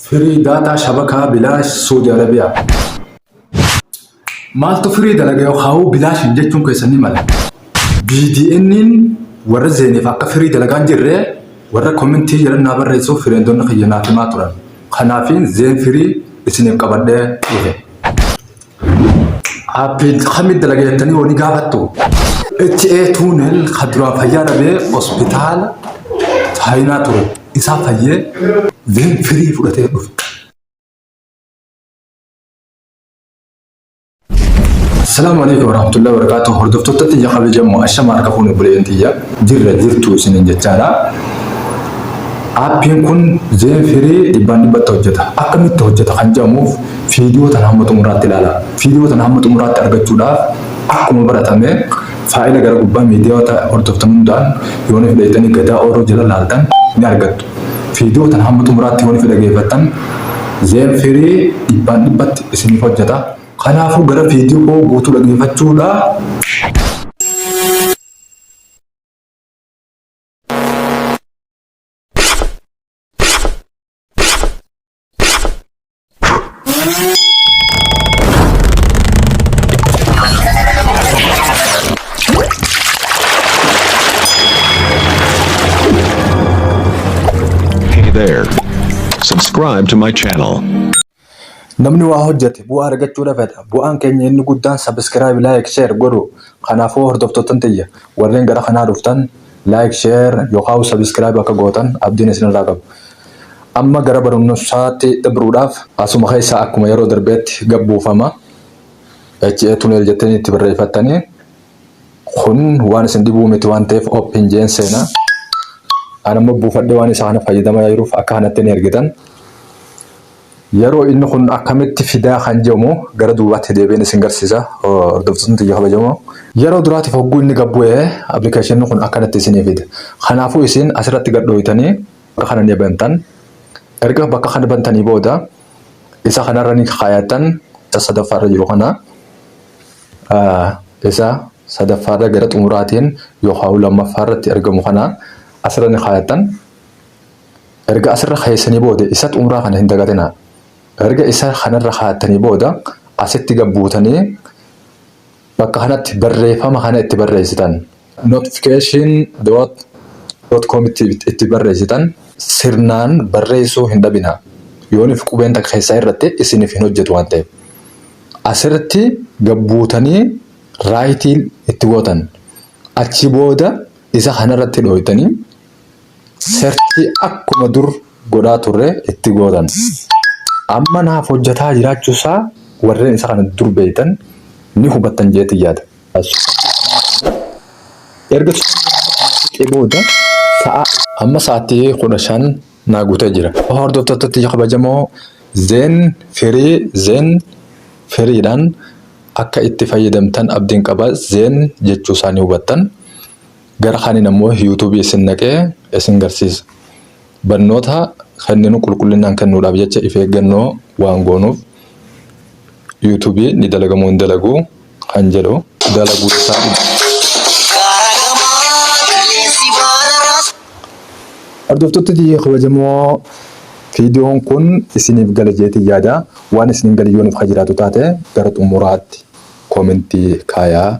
Firii daataa shabakaa bilaash Suudi Arabiyaa. Maaltu firii dalaga yoo haawuu bilaashin jechuun keessan ni mala. BDN'n warra zeeneef akka firii dalagaan jirree warra komentii jedhan naa barreessuuf fireendonni kiyya naaf himaa turan. Kanaafiin zeen firii isiniif qabadhee dhufe. Aappii kamii dalaga jettanii yoo ni gaafattu HA tuunel kan duraan fayyaa dhabee hospitaala chaayinaa ture isaa fayyee veen firii fudhatee dhufe. Assalamu alaikum warahmatullahi wabarakatuh. Hordoftoota xiyya kabajamoo ashama harka fuune buleen xiyya jirra jirtu isinin jechaadha. Aappiin kun zeen firii dhibbaan dhibbatti hojjeta. Akkamitti hojjeta kan jedhamuuf Viidiyoo tana hamma xumuraatti ilaalaa. Viidiyoo tana hamma xumuraatti argachuudhaaf akkuma baratame faayila gara gubbaa miidiyaawota hordoftan hundaan yoonii fudhattanii Gadaa Ooroo jala laaltan ni argattu. Viidiyoo tana hamma xumuraatti yoonii fudhageeffattan Zeen Firii dhibbaan dhibbatti isiniif hojjata. Kanaafuu gara viidiyoo guutuu dhageeffachuudhaa. Hey there. Subscribe to my channel. Namni waa hojjete bu'aa argachuu dhabata. Bu'aan keenya inni guddaan sabiskiraayib, laayik, sheer godhu. Kanaafuu hordoftoottan tiyya warreen gara kanaa dhuftan Like share yokaahu subscribe akka gootan abdiin isinirraa qaba. Amma gara barumsaatti dabruudhaaf. Asuma keessaa akkuma yeroo darbeetti gad buufama. HA tunnel jettanii itti barreeffattanii kun waan isin dhibuu miti waan ta'eef open jeen seena. An ammoo buufadhee waan isa kana fayyadamaa jiruuf akka kanatti ni ergitan. Yeroo inni kun akkamitti fidaa kan jedhamu gara duubaatti deebi'een isin garsiisa hordoftootni tiyya kabajamoo. Yeroo duraatiif hogguu inni gad bu'e application kun akkanatti isinii fida. Kanaafuu isin asirratti gad dhooytanii bakka kana ni bantan. Erga bakka kana bantanii booda isa kanarra ni kaayattan isa sadaffaarra jiru kana isa sadaffaarra gara xumuraatiin yookaan lammaffaarratti argamu kana asirra ni kaayattan. Erga asirra keessanii booda isat umraa kana hin dagatinaa. Erga isa kana irra kaattanii booda asitti gad buutanii bakka kanatti barreeffama kana itti barreessitan. Notification dot dot com itti itti barreessitan. Sirnaan barreessuu hin dhabinaa. Yoonif qubeen takka keessaa hir'atte isinif hin hojjetu waan ta'eef. Asirratti gad buutanii right itti gootan. Achi booda isa kana irratti dhooytanii Search akkuma dur godhaa turre itti gootan. Amma naaf hojjataa jiraachuu isaa warreen isa kana dur beektan ni hubattan jeetti yaada. Erga suuqii booda sa'a amma sa'aatii kudha shan naa guutee jira. Hordoftootatti kabajamoo zeen firii zeen firiidhaan akka itti fayyadamtan abdiin qaba zeen jechuu isaa ni hubattan. Gara kaaniin ammoo YouTube isin naqee isin garsiisa. Barnoota kenninu qulqullinaan kennuudhaaf jecha if eeggannoo waan goonuuf YouTube ni dalagamoo hin dalagu kan jedhu dalaguu isaa Hordoftoota tiyya kabajamoo viidiyoon kun isiniif gale jeetii yaada. Waan isiniin gale yoo nuuf kan jiraatu taate gara xumuraatti koomentii kaayaa.